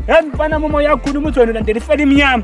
Yaani bana mama yakhuluma uzweni landela ifela imnyama.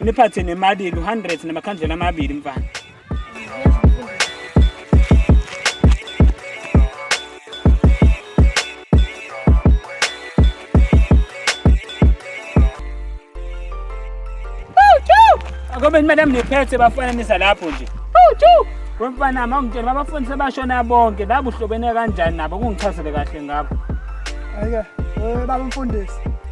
niphathe nemali yenu 100 namakhandlela amabili mfana Akobe ni madam niphethe bafana nisa lapho nje. Awuthu. Wemfana ma ungitshela abafundi sebashona bonke la buhlobene kanjani nabo kungichazele kahle ngakho. Ayike, eh baba mfundisi.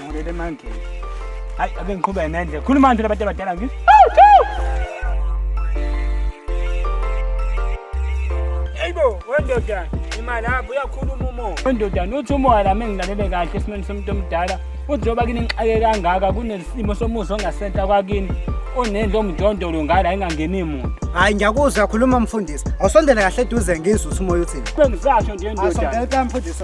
ngibuyele emandleni hayi ake ngiqhubeke nendlela khuluma kanjalo abantu abadala ngithi eyibo wendoda imali apho uyakhuluma umoya wendoda uthi umoya lami engilalele kahle esimeni somuntu omdala uthi njengoba kini ngixake kangaka kunesimo somuzi ongasenta kwakini onendlu omjondolo ngala ayingangeni muntu hayi ngiyakuzwa khuluma mfundisi awusondele kahle eduze ngizwe uthi umoya uthini bengisasho nje ndoda asondele mfundisi